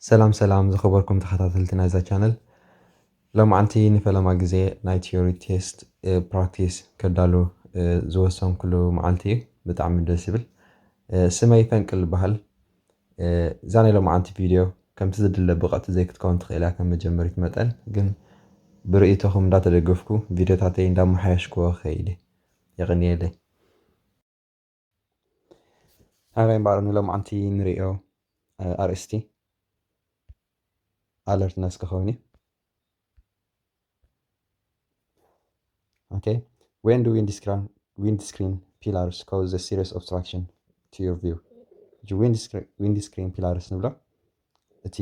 ሰላም ሰላም ዝኸበርኩም ተኸታተልቲ ናይዛ ቻነል ሎምዓንቲ ንፈለማ ግዜ ናይ ቲዮሪ ቴስት ፕራክቲስ ከዳሉ ዝወሰንኩሉ መዓልቲ እዩ ብጣዕሚ ደስ ይብል ስመይ ፈንቅል ይበሃል እዛ ናይ ሎምዓንቲ ቪድዮ ከምቲ ዝድለ ብቐቲ ዘይክትከውን ትኽእል እያ ከም መጀመሪት መጠን ግን ብርእይቶኹም እንዳተደገፍኩ ቪድዮታተይ እንዳመሓየሽክዎ ኸይድ የቕንየለይ ኣበይ እምበኣር ንሎምዓንቲ ንርእዮ ኣርእስቲ ኣለርትነስ ክኸውን እዩ ኦኬ ዌን ዱ ዊንድ ስክሪን ፒላርስ ኮዝ ዘ ሲሪየስ ኦብስትራክሽን ቱ ዩር ቪው እዚ ዊንድ ስክሪን ፒላርስ ንብሎ እቲ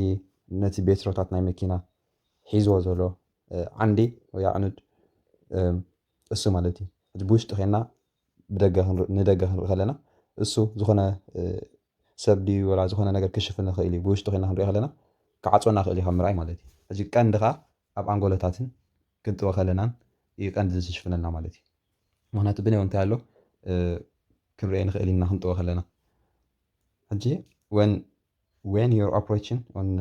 ነቲ ቤትሮታት ናይ መኪና ሒዝዎ ዘሎ ዓንዲ ወይ ኣዕኑድ እሱ ማለት እዩ እቲ ብውሽጢ ኮይና ብደገ ክንር ንደገ ክንርኢ ከለና እሱ ዝኾነ ሰብ ድዩ ወላ ዝኾነ ነገር ክሽፍን ይኽእል እዩ ብውሽጢ ኮይና ክንሪኦ ከለና ክዓፅወና ክእል እዩ ካብ ምርኣይ ማለት እዩ ሕጂ ቀንዲ ከዓ ኣብ ኣንጎሎታትን ክንጥወ ከለናን እዩ ቀንዲ ዝሽፍነልና ማለት እዩ ምክንያቱ ብነይ እንታይ ኣሎ ክንሪኦ ንኽእል ኢና ክንጥወ ከለና ሕጂ ወን ዌን ዩር ኦፕሬሽን ን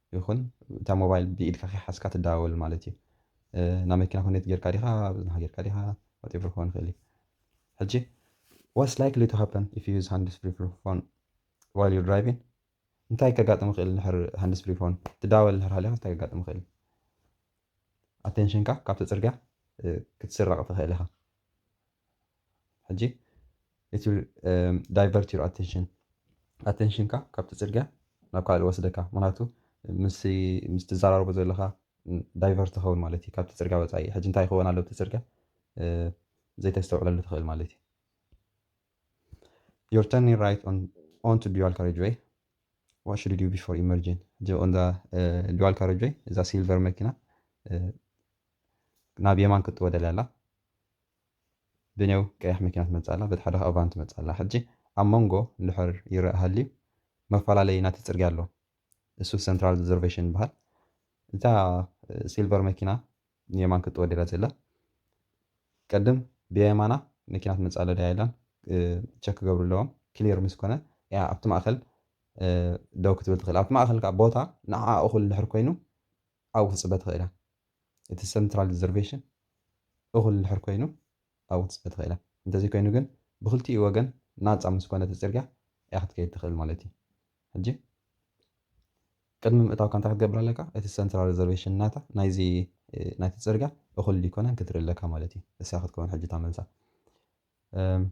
ይኹን እታ ሞባይል ብኢድካ ከይሓዝካ ትደዋወል ማለት እዩ ናብ መኪና ኮኔት ጌርካ ዲኻ ብዝናሃ ጌርካ ዲኻ ዋትኤቨር ክኸውን ይኽእል እዩ ሕጂ ዋትስ ላይክሊ ቱ ሃፐን ኢፍ ዩ ዩዝ ሃንድስ ፍሪ ፎን ዋይል ዩር ድራይቪን እንታይ ከጋጥም ይኽእል ንድሕር ሃንድስ ፍሪ ፎን ትደዋወል ንድሕር ሃሊኻ እንታይ ከጋጥም ይኽእል ኣቴንሽንካ ካብቲ ፅርግያ ክትስረቕ ትኽእል ኢኻ ሕጂ ኢት ዊል ዳይቨርት ዩር ኣቴንሽን ኣቴንሽንካ ካብቲ ፅርግያ ናብ ካልእ ወስደካ ምክንያቱ ምስ ትዘራረቦ ዘለካ ዳይቨርት ትኸውን ማለት እዩ ካብቲ ፅርግያ ወፃኢ ሕጂ እንታይ ይኸውን ኣሎ እቲ ፅርግያ ዘይተስተውዕለሉ ትኽእል ማለት እዩ ዩር ተርኒ ራይት ኦን ቱ ዱዋል ካሬጅወይ ዋት ሹድ ዩ ቢፎር ኢመርጂን ሕጂ ኦንዛ ዱዋል ካሬጅወይ እዛ ሲልቨር መኪና ናብ የማን ክትወደል ኣላ ብኔው ቀያሕ መኪና ትመጽእ ኣላ፣ በቲ ሓደ ኸኣ ቫን ትመጽእ ኣላ። ሕጂ ኣብ ሞንጎ እንድሕር ይርኣ ሃልዩ መፈላለዪ ናቲ ጽርግያ ኣሎ፣ እሱ ሰንትራል ሪዘርቬሽን ይብሃል። እታ ሲልቨር መኪና ንየማን ክትጥወ ድያ ዘላ? ቀድም ብየማና መኪና ትመጽእ ኣላ ድያ የላን ቸክ ክገብሩ ኣለዎም። ክሊር ምስ ኮነ እያ ኣብቲ ማእከል ደው ክትብል ትኽእል። ኣብቲ ማእከል ከኣ ቦታ ንዓኣ እኹል እንድሕር ኮይኑ ኣብኡ ክትጽበ ትኽእል እያ። እቲ ሰንትራል ሪዘርቬሽን እኹል እንድሕር ኮይኑ ኣብኡ ክትስዕብ ትኽእል ኢያ። እንተዘይኮይኑ ግን ብኽልቲኡ ወገን ናጻ ምስ ኮነ እቲ ጽርግያ ኢያ ክትከይድ ትኽእል ማለት ኢዩ። ሕጂ ቅድሚ ምእታውካ እንታይ ክትገብር ኣለካ? እቲ ሰንትራል ሪዘርቬሽን ናታ ናይዚ ናይቲ ጽርግያ እኹል ድዩ ኣይኮነን ክትርኢ ኣለካ ማለት ኢዩ። እሳ ክትከውን ሕጂ እታ መልሳ። እም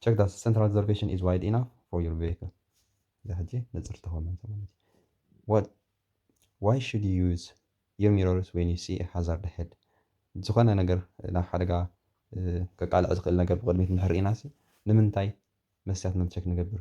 ቸክ ዳት ሰንተራል ሪዘርቬሽን ኢዝ ዋይድ ኢናፍ ፎር ዩር ቬክል እዛ ሕጂ ንፅርቲ ኮነ ማለት ዋት ዋይ ሹድ ዩ ዩዝ ዩር ሚሮርስ ወን ዩ ሲ ሃዛርድ ሄድ ዝኾነ ነገር ናብ ሓደጋ ከቃልዕ ዝኽእል ነገር ብቕድሚት እንድሕር ርኢና ሲ ንምንታይ መስትያትና ቸክ ንገብር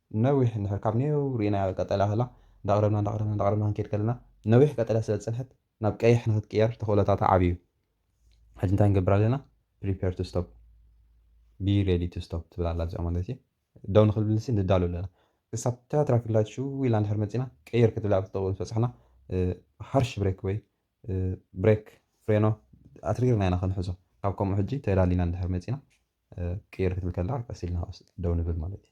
ነዊሕ እንድሕር ካብ ኔው ርኢናያ ቀጠልያ ከላ እንዳቕረብና እንዳቕረብና እንዳቕረብና ክንከይድ ከለና ነዊሕ ቀጠልያ ስለ ዝጸንሐት ናብ ቀይሕ ንክትቅየር ተኽእሎታታ ዓቢ እዩ። ሕጂ እንታይ ንገብር ኣለና Prepare to stop Be ready to stop ትብል ኣላ እዚኣ ማለት እዩ። ደው ንክብልሲ ንዳሎ ኣለና። ክሳብ እታ ትራፊክ ላይት ሽው ኢላ እንድሕር መጺእና ቀይር ክትብል ኣብቲ ጥቕኡ ምስ በጻሕና ሃርሽ ብሬክ ወይ ብሬክ ፍሬኖ ኣትሪርና ኢና ክንሕዞ። ካብ ከምኡ ሕጂ ተዳሊና እንድሕር መጺእና ቀይር ክትብል ከላ ቀስ ኢልና ደው ንብል ማለት እዩ።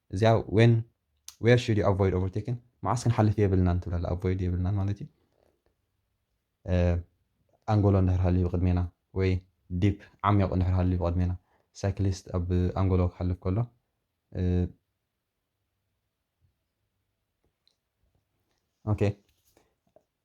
እዚኣ ዌን ዌር ሹድ ዩ ኣቮይድ ኦቨርቴኪን መዓስ ክንሓልፍ የብልናን ትብል ኣላ ኣቮይድ የብልናን ማለት ዩ ኣንጎሎ እንድሕር ሃልዩ ብቕድሜና ወይ ዲፕ ዓሚቕ እንድሕር ሃልዩ ብቕድሜና ሳይክሊስት ኣብ ኣንጎሎ ክሓልፍ ከሎ ኦኬ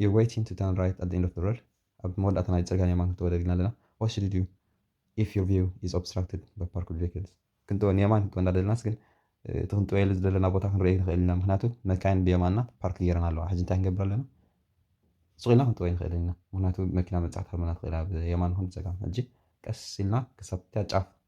You're waiting to turn right at the end of the road ኣብ መወዳእታ ናይ ጽርግያ ንየማን ክትወደል ኢልና ኣለና What should you do if your view is obstructed by parked vehicles? ክንጥወ ንየማን ክንጥወ እንዳደለናስ ግን እቲ ክንጥወየሉ ዝደለና ቦታ ክንርእዮ ኣይንኽእልን ኢና ምኽንያቱ መካይን ብየማንና ፓርክ ገይረን ኣለዋ ሕጂ እንታይ ክንገብር ኣለና ሱቕ ኢልና ክንጥወ ኣይንኽእልን ኢና ምኽንያቱ መኪና ምብጻሕ ትሃርመና ትኽእል እያ ብየማን ይኹን ብጸጋም ሕጂ ቀስ ኢልና ክሳብታ ጫፍ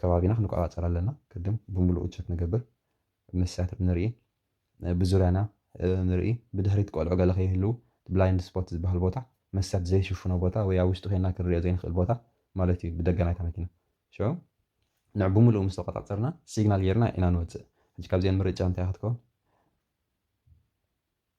ከባቢና ክንቆጻጸር ኣለና ቅድም ብምሉኡ ቸክ ንገብር ምስ ሳትር ንርኢ ብዙርያና ንርኢ ብድሕሪት ቆልዑ ገለ ከይህልው ብላይንድ ስፖት ዝብሃል ቦታ መስትያት ዘይሽፍኖ ቦታ ወይ ኣብ ውሽጢ ኮይና ክንሪኦ ዘይንክእል ቦታ ማለት እዩ ብደገ ናይታ መኪና ሽዑ ንዕ ብምሉኡ ምስ ተቆጻጸርና ሲግናል ጌርና ኢና ንወጽእ ሕጂ ካብዚኤን ምርጫ እንታይ ክትከውን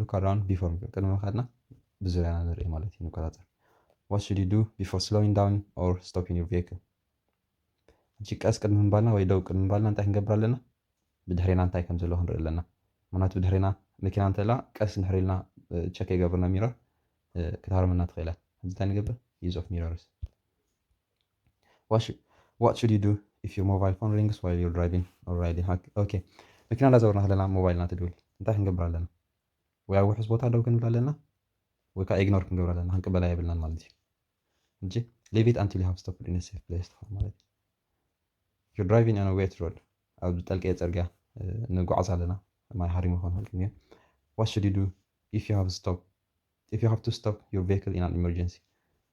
ሉክ ኣራውንድ ቢፎር ቅድሚ ምኻድና ብዙርያና ንርኢ ማለት እዩ ንቆፃፀር ዋት ሹድ ዩ ዱ ቢፎር ስሎዊን ዳውን ኦር ስቶፒን ዩር ቪክል ሕጂ ቀስ ቅድሚ ምባልና ወይ ደው ቅድሚ ምባልና እንታይ ክንገብር ኣለና ብድሕሬና እንታይ ከም ዘለዎ ክንርኢ ኣለና ምክንያቱ ብድሕሬና መኪና እንተላ ቀስ ንድሕር ኢልና ቸክ የገብርና ሚረር ክትሃርመና ትኽእል እያ ሕጂ እንታይ ንገብር ዩዝ ኦፍ ሚረርስ ዋሽ ዋት ሹድ ዩ ዱ ኢፍ ዩር ሞባይል ፎን ሪንግስ ዋይል ዩር ድራይቪን ኦር ራይዲን ሃክ ኦኬ መኪና እንዳዘወርና ከለና ሞባይልና ትድውል እንታይ ክንገብር ኣለና ወይ ኣብ ውሑስ ቦታ ደው ክንብል ኣለና ወይ ከዓ ኢግኖር ክንገብር ኣለና ክንቅበላ የብልናን ማለት እዩ እንጂ ሊቭ ኢት ኣንቲል ዩ ሃቭ ስቶፕድ ኢን ሴፍ ፕሌስ ትኸውን ማለት እዩ ዩር ድራይቪን ኦን ዌት ሮድ ኣብ ዝጠልቀየ ፅርግያ ንጓዓዝ ኣለና ማይ ሃሪሙ ክኾን ይኽእል ግን ዋት ሹድ ዩ ዱ ኢፍ ዩ ሃቭ ስቶፕ ኢፍ ዩ ሃቭ ቱ ስቶፕ ዩር ቬክል ኢን ኣን ኢመርጀንሲ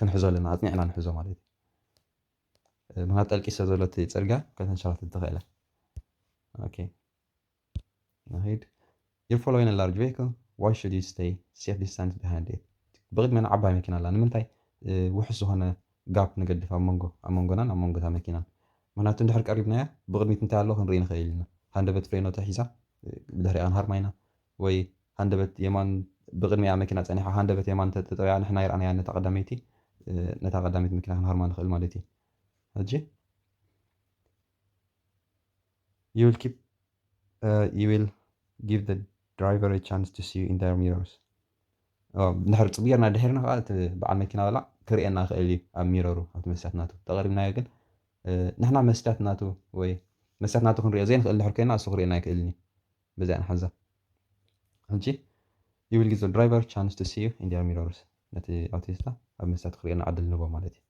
ክንሕዞ ኣለና ኣጽኒዕና ንሕዞ ማለት እዩ ምክንያቱ ጠልቂ ስለ ዘሎ እቲ ጽርግያ ከተንሸራትት ትኽእል እያ ኦኬ ንኺድ You're following a large vehicle. Why should you stay safe distance behind it? ብቕድሜና ዓባይ መኪና ኣላ ንምንታይ ውሑስ ዝኾነ ጋፕ ንገድፍ ኣብ መንጎ ኣብ መንጎናን ኣብ መንጎታ መኪናን ምክንያቱ እንድሕር ቀሪብናያ ብቕድሚት እንታይ ኣሎ ክንርኢ ንኽእል ኢና ሃንደበት ፍሬኖ ተሒዛ ብድሕሪኣ ክንሃርማ ኢና ወይ ሃንደበት የማን ብቅድሚኣ መኪና ጸኒሓ ሃንደበት የማን እንተ ጠጠውያ ንሕና ኣይረኣናያን ነታ ቀዳመይቲ ነታ ቀዳመይቲ መኪና ክንሃርማ ንኽእል ማለት እዩ ሕጂ you will keep uh, you will give the driver a chance to see you in their mirrors ድሕር ፅቡ ጌርና ድሒርና ከዓ እቲ በዓል መኪና በላዕ ክርእየና ክእል እዩ ኣብ ሚረሩ ኣብቲ መስትያት ናቱ ተቐሪብናዮ ግን ንሕና መስትያት ናቱ ወይ መስትያት ናቱ ክንሪኦ ዘይንኽእል ድሕር ኮይና እሱ ክርእየና ኣይክእልን እዩ በዚኣ ንሓዛ ሕጂ you will give the driver chance to see you in their mirrors ነቲ ኣውቲስታ ኣብ መስትያቱ ክርእየና ዕድል ንህቦ ማለት እዩ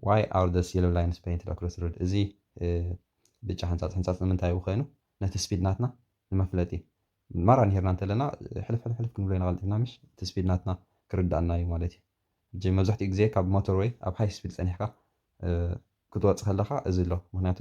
why are these yellow lines painted across the road እዚ ብጫ ሕንጻጽ ሕንጻጽ ንምንታይ እዩ ኮይኑ ነቲ ስፒድ ናትና ንመፍለጢ ማራ ንሄርና እንተለና ሕልፍ ሕልፍ ሕልፍ ክንብሎ ኢና ቀልጢፍና ምሽ እቲ ስፒድ ናትና ክርዳእና እዩ ማለት እዩ ሕጂ መብዛሕትኡ ግዜ ካብ ሞተር ወይ ኣብ ሃይ ስፒድ ጸኒሕካ ክትወጽእ ከለኻ እዚ ኣሎ ምክንያቱ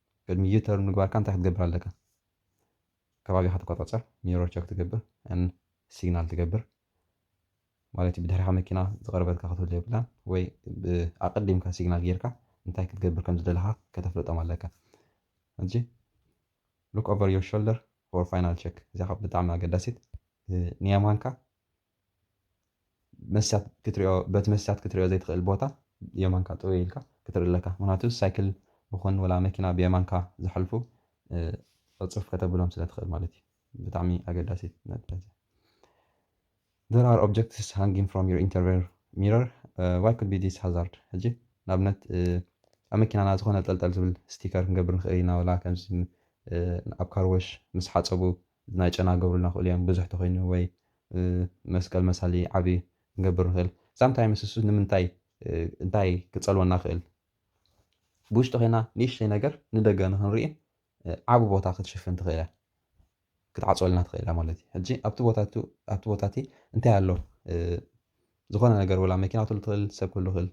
ቅድሚ ዩ-ተርን ምግባርካ እንታይ ክትገብር ኣለካ? ከባቢኻ ትቆጻጸር፣ ሚሮር ቸክ ትገብር and ሲግናል ትገብር ማለት ዩ ብድሕሪኻ መኪና ዝቐረበትካ ክትህሉ የብላን ወይ ኣቐዲምካ ሲግናል ጌርካ እንታይ ክትገብር ከም ዝደለኻ ከተፍልጦም ኣለካ። ሕጂ ሉክ ኦቨር ዩር ሾልደር ፎር ፋይናል ቸክ እዚኣ ብጣዕሚ ኣገዳሲት ንየማንካ መስትያት ክትሪኦ በቲ መስትያት ክትሪኦ ዘይትኽእል ቦታ የማንካ ጥውይ ኢልካ ክትርኢ ኣለካ ምክንያቱ ሳይክል ይኹን ወላ መኪና ብየማንካ ዝሓልፉ ዕጹፍ ከተብሎም ስለ ትኽእል ማለት እዩ ብጣዕሚ ኣገዳሲት ነጥቢ there are objects hanging from your interior mirror uh, why could be this hazard ሕጂ ንኣብነት ኣብ መኪናና ዝኾነ ጠልጠል ዝብል ስቲከር ክንገብር ንኽእል ኢና ወላ ከምዚ ኣብ ካርወሽ ምስ ሓፀቡ ናይ ጨና ክገብሩልና ይኽእሉ እዮም ብዙሕ ተኾይኑ ወይ መስቀል መሳሊ ዓቢ ክንገብር ንኽእል ሳም ታይምስ እሱ ንምንታይ እንታይ ክጸልወና ይኽእል ብውሽጢ ኮይና ንእሽተይ ነገር ንደገ ንኽንርኢ ዓቢ ቦታ ክትሽፍን ትኽእል እያ ክትዓጽወልና ትኽእል እያ ማለት እዩ ሕጂ ኣብቲ ቦታቱ ኣብቲ ቦታ እቲ እንታይ ኣሎ ዝኾነ ነገር ወላ መኪና ክትህሉ ትኽእል ሰብ ክህሉ ይኽእል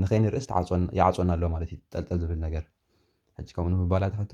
ንኸይንርእስ ይዓጽወና ኣሎ ማለት እዩ ጠልጠል ዝብል ነገር ሕጂ ከምኡ ንምባል ኣትሓቶ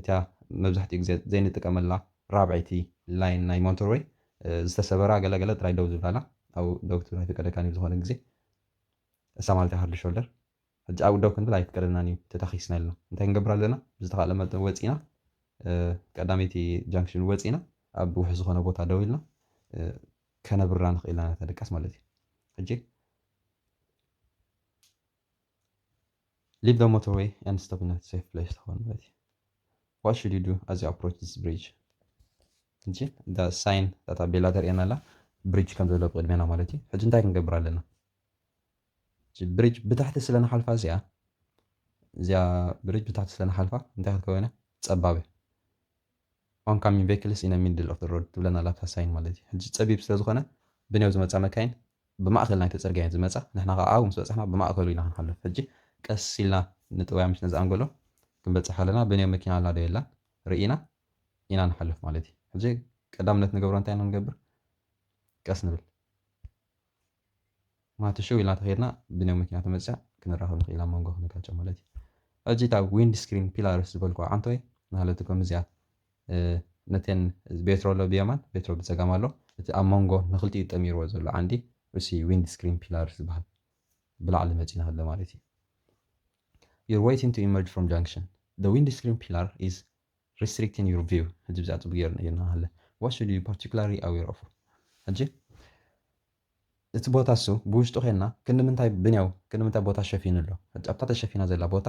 እታ መብዛሕትኡ ግዜ ዘይንጥቀመላ ራብዐይቲ ላይን ናይ ሞንተርወይ ዝተሰበራ ገለ ገለ ጥራይ ደው ዝብላላ ኣብኡ ደው ክትብል ኣይፍቀደካን እዩ ብዝኾነ ግዜ እሳ ማለተይ ሃርድ ሾልደር ሕጂ ኣብኡ ደው ክንብል ኣይፍቀደልናን እዩ ተታኺስና ኢልና እንታይ ክንገብር ኣለና ብዝተኻእለ መጠን ወጺእና ቀዳመይቲ ጃንክሽን ወጺእና ኣብ ውሑስ ዝኾነ ቦታ ደው ኢልና ከነብርራ ንኽእል ኢና ነታ ድቃስ ማለት እዩ ሕጂ ሊቭ ዘ ሞተርወይ ኣንድ ስቶፕ ኢን ሴፍ ፕሌስ ትኸውን ማለት እዩ ዋት ሹድ ዩ ዱ ኣዝ ዩ ኣፕሮች ዚስ ብሪጅ እንጂ እዛ ሳይን እታ ታቤላ ተርእየና ኣላ ብሪጅ ከም ዘሎ ብቅድሜና ማለት እዩ ሕጂ እንታይ ክንገብር ኣለና ብሪጅ ብታሕቲ ስለ ንሓልፋ እዚኣ እዚኣ ብሪጅ ብታሕቲ ስለ ንሓልፋ እንታይ ክትከውን እያ ፀባብ ኦንካሚንግ ቬክልስ ኢነ ሚድል ኦፍ ዘ ሮድ ትብለና ኣላ እታ ሳይን ማለት እዩ ሕጂ ጸቢብ ስለ ዝኾነ ብኔው ዝመጻ መካይን ብማእከል ናይቲ ጽርግያ እየን ዝመጻ ንሕና ከኣ ኣብኡ ምስ በጻሕና ብማእከሉ ኢና ክንሓልፍ ሕጂ ቀስ ኢልና ንጥውያ ምስ ነዚ ኣንጎሎ ክንበጽሕ ከለና ብኔው መኪና ኣላ ዶ የላን ርኢና ኢና ንሓልፍ ማለት እዩ ሕጂ ቀዳምነት ንገብሮ እንታይ ኢና ንገብር ቀስ ንብል ማቱ ሽው ኢልና ተኸድና ብንዮ መኪና ተመጽያ ክንራኸብ ንኽእል ኣብ መንጎ ክንጋጨ ማለት እዩ ሕጂ እታ ዊንድ ስክሪን ፒላርስ ዝበልኩ ዓንቶይ ናህለቱ ከምዚኣ ነተን ቤትሮ ኣሎ ብየማን ቤትሮ ብጸጋም ኣሎ እቲ ኣብ መንጎ ንክልቲኡ ጠሚርዎ ዘሎ ዓንዲ እሲ ዊንድ ስክሪን ፒላርስ ዝበሃል ብላዕሊ መጺና ኣሎ ማለት እዩ You're waiting to emerge from junction. The windscreen pillar is Restricting your view ሕጂ ብዛዕባ ጽቡቅ ጌሩ ነጊርና ሃለ What should you be particularly aware of ሕጂ እቲ ቦታ እሱ ብውሽጡ ኬንና ክንድምንታይ ብንያው ክንድምንታይ ቦታ ሸፊኑ ኣሎ ሕጂ ኣብታ ተሸፊና ዘላ ቦታ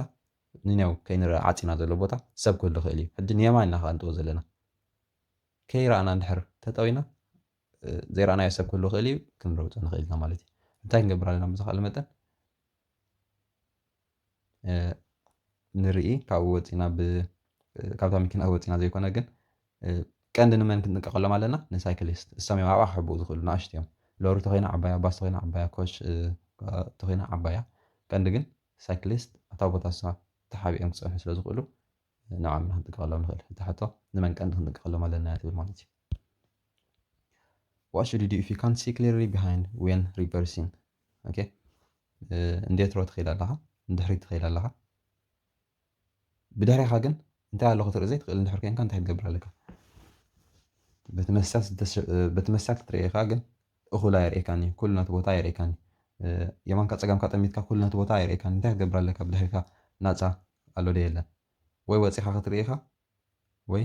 ንንያው ከይንረኣ ዓጺና ዘሎ ቦታ ሰብ ክህሉ ይኽእል እዩ ሕጂ ንየማን ኢና ከኣንጥቦ ዘለና ከይረኣና እንድሕር ተጠዊና ዘይረኣናዮ ሰብ ክህሉ ይኽእል እዩ ክንረብጾ ንኽእል ኢና ማለት እዩ እንታይ ክንገብር ኣለና ብዝኽኣለ መጠን ንርኢ ካብኡ ወጺና ብ ካብታ መኪና ወጺና ዘይኮነ ግን ቀንዲ ንመን ክንጥንቀቐሎም ኣለና ንሳይክሊስት እሶም እዮም ኣብኣ ክሕብኡ ዝኽእሉ ንኣሽቱ እዮም ሎሪ ተኾይና ዓባያ ባስ ተኾይና ዓባያ ኮች ተኾይና ዓባያ ቀንዲ ግን ሳይክሊስት ኣብታ ቦታ ንሳ ተሓቢኦም ክጸንሑ ስለ ዝኽእሉ ንዕዖም ኢና ክንጥንቀቐሎም ንኽእል እታ ሕቶ ንመን ቀንዲ ክንጥንቀቐሎም ኣለና እያ ትብል ማለት እዩ። What should you do if you can't see clearly behind when reversing? Okay. እንዴት ሮ ትኸይድ ኣለኻ ንድሕሪት ትኸይድ ኣለኻ ብድሕሪኻ ግን እንታይ ኣሎ ክትርኢ ዘይትኽእል እንድሕር ኮንካ እንታይ ክትገብር ኣለካ በቲ መሳት ክትርእየካ ግን እኹል ኣየርእየካን እዩ ኩሉ ነቲ ቦታ ኣየርእየካን እዩ የማንካ ፀጋምካ ጠሚትካ ኩሉ ነቲ ቦታ ኣየርእየካን እንታይ ክትገብር ኣለካ ብድሕሪካ ናፃ ኣሎ ደ የለን ወይ ወፂኻ ክትርእኻ ወይ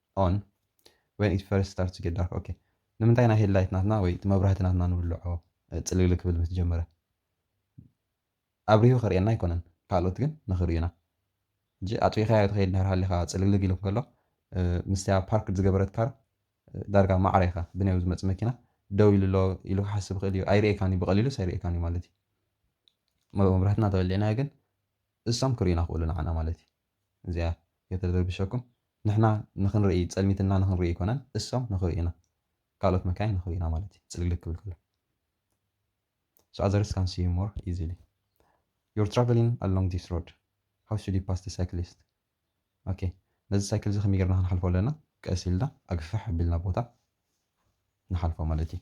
on when it first starts to get dark ok ንምንታይ ኢና ሄድ ላይት ናትና ወይ እቲ መብራህቲ ናትና ንውልዖ ጽልግልግ ክብል ምስ ጀመረ ኣብሪሁ ከርእየና ኣይኮነን ካልኦት ግን ንኽርእዩና ሕጂ ኣጥቢኻዮ ትኸይድ እንድሕር ሃሊኻ ጽልግልግ ኢሉ ከሎ ምስቲያ ፓርክ ዝገበረት ካር ዳርጋ ማዕረ ኢኻ ብንየው ዝመጽእ መኪና ደው ኢሉ ኣሎ ኢሉ ክሓስብ ይኽእል እዩ ኣይርእየካን እዩ ብቐሊሉስ ኣይርእየካን እዩ ማለት እዩ መብራህትና ተወሊዕናዮ ግን እሶም ክርእዩና ክእሉ ንዓና ማለት እዩ እዚኣ ከይተደርብሸኩም ንሕና ንክንርኢ ጸልሚትና ንክንርኢ ኣይኮነን እሶም ንክርእዩና ካልኦት መካይን ንክርእዩና ማለት እዩ ጽልግልግ ክብል ከሎ so others can see you more easily you're traveling along this road how should you pass the cyclist okay ነዚ ሳይክል እዚ ከመይ ጌርና ክንሓልፎ ኣለና ቀስ ኢልና ኣግፍሕ ኣቢልና ቦታ ንሓልፎ ማለት እዩ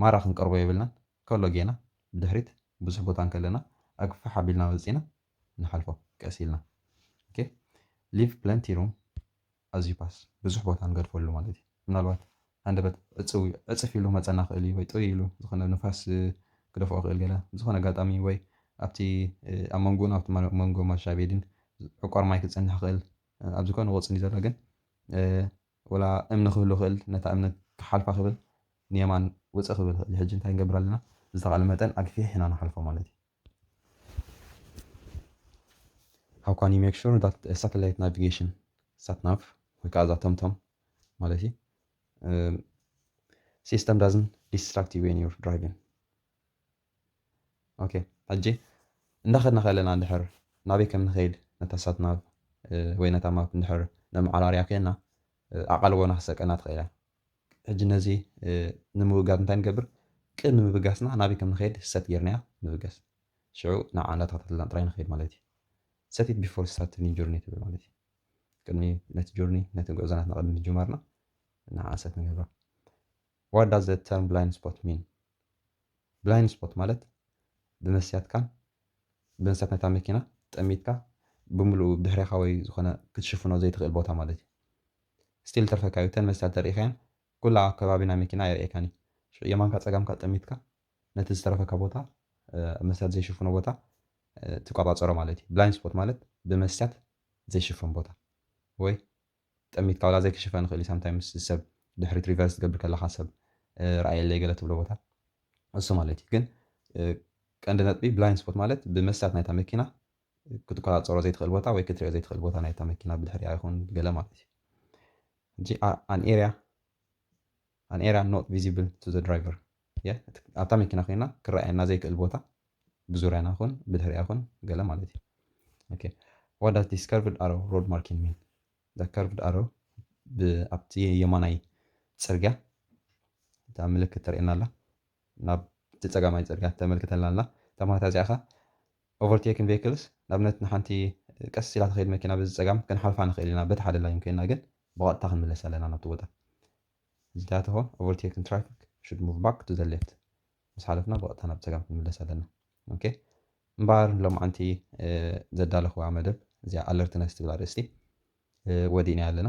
ማራ ክንቀርቦ የብልናን ከሎ ጌና ብድሕሪት ብዙሕ ቦታ እንከለና ኣግፍሕ ኣቢልና ወፂና ንሓልፎ ቀስ ኢልና ኦኬ ሊቭ ፕለንቲ ሩም ኣዝ ዩ ፓስ ብዙሕ ቦታ ንገድፈሉ ማለት እዩ ምናልባት ሃንደበት ዕፅው ዕፅፍ ኢሉ መፀና ክእል እዩ ወይ ጥውይ ኢሉ ዝኾነ ንፋስ ክደፍኦ ክእል ገለ ዝኾነ ኣጋጣሚ ወይ ኣብቲ ኣብ መንጎን ኣብቲ መንጎ ማሻ ቤድን ዕቋር ማይ ክፀንሕ ክእል ኣብዚ ኮ ንቆፅሊ እዩ ዘሎ ግን ወላ እምኒ ክህሉ ክእል ነታ እምኒ ክሓልፋ ክብል ንየማን ውፅእ ክብል ክእል ሕጂ እንታይ ንገብር ኣለና ዝተቃለ መጠን ኣግፊሕ ኢና ንሓልፎ ማለት እዩ How can you make sure that a satellite navigation satnav ወይ ከዓ እዛ ቶምቶም ማለት እዩ ሲስተም ዳዝን ዲስትራክት ዩ ዌን ዩር ድራይቪን ኦኬ ሕጂ እንዳኸድና ከለና እንድሕር ናበይ ከም ንኸይድ ነታ ሳትናቭ ወይ ነታ ማፕ እንድሕር ነመዓራርያ ኮይና ኣቓልቦና ክሰቀና ትኽእል እያ ሕጂ ነዚ ንምውጋድ እንታይ ንገብር? ቅድሚ ምብጋስና ናበይ ከም ንኸይድ ሰት ጌርናዮ ንብገስ። ሽዑ ናብኣ እንዳተኸታተልና ጥራይ ንኸይድ ማለት እዩ። Set it before starting your journey ትብል ማለት እዩ። ቅድሚ ነቲ ጆርኒ ነቲ ጉዕዞ ናትና ቅድሚ ምጅማርና ንዓኣ ሰት ንገብራ። What does the term blind spot mean? ብላይንድ ስፖት ማለት ብመስትያትካን ብመስትያት ናይታ መኪና ጠሚትካ ብምሉኡ ብድሕሬኻ ወይ ዝኾነ ክትሽፍኖ ዘይትኽእል ቦታ ማለት እዩ። እስቲል ተርፈካ ዩ እተን መስትያት ተርእካየን ኩላ ኣብ ከባቢ ናይ መኪና ኣይርእየካን ዩ ሽዑ የማንካ ጸጋምካ ጠሚትካ ነቲ ዝተረፈካ ቦታ ኣብ መስትያት ዘይሽፍኖ ቦታ ትቋጻጸሮ ማለት ዩ ብላይንድ ስፖት ማለት ብመስትያት ዘይሽፈን ቦታ ወይ ጠሚትካ ዋላ ዘይክሽፈን ይክእል ዩ ሳምታይምስ ሰብ ድሕሪት ሪቨርስ ትገብር ከለካ ሰብ ርኣየለይ ገለ ትብሎ ቦታ እሱ ማለት ዩ ግን ቀንዲ ነጥቢ ብላይንድ ስፖት ማለት ብመስትያት ናይታ መኪና ክትቆጻጸሮ ዘይትኽእል ቦታ ወይ ክትሪኦ ዘይትኽእል ቦታ ናይታ መኪና ብድሕሪኣ ይኹን ብገለ ማለት እዩ። ሕጂ ኣን ኤርያ ኣን ኤርያ ኖት ቪዚብል ቱ ዘ ድራይቨር ኣብታ መኪና ኮይና ክረኣየና ዘይክእል ቦታ ብዙርያና ይኹን ብድሕሪኣ ይኹን ገለ ማለት እዩ። ኦኬ ዋት ዳዝ ዲስ ከርቭድ ኣሮ ሮድ ማርኪንግ ሚን እዛ ከርቭድ ኣሮ ኣብቲ የማናይ ጽርግያ እታ ምልክት ተርእየና ኣላ ናብ እቲ ጸጋማይ ጽርግያ ተመልክተልና ኣላ እታ ማታ እዚኣ ከ ኦቨርቴክን ቬክልስ ንኣብነት ንሓንቲ ቀስ ኢላ ትኸይድ መኪና በዚ ጸጋም ክንሓልፋ ንኽእል ኢና በቲ ሓደ ላይን ኮይና ግን ብቐጥታ ክንምለስ ኣለና ናብቲ ቦታ ዝተያትሆ ኦቨርቴክን ትራፊክ ሹድ ሙቭ ባክ ቱ ዘ ሌፍት ምስ ሓለፍና ብቐጥታ ናብ ጸጋም ክንምለስ ኣለና ኦኬ እምበኣር ሎምዓንቲ ዘዳለኹዋ መደብ እዚኣ ኣለርትነስ ትብል ኣርእስቲ ወዲእናያ ኣለና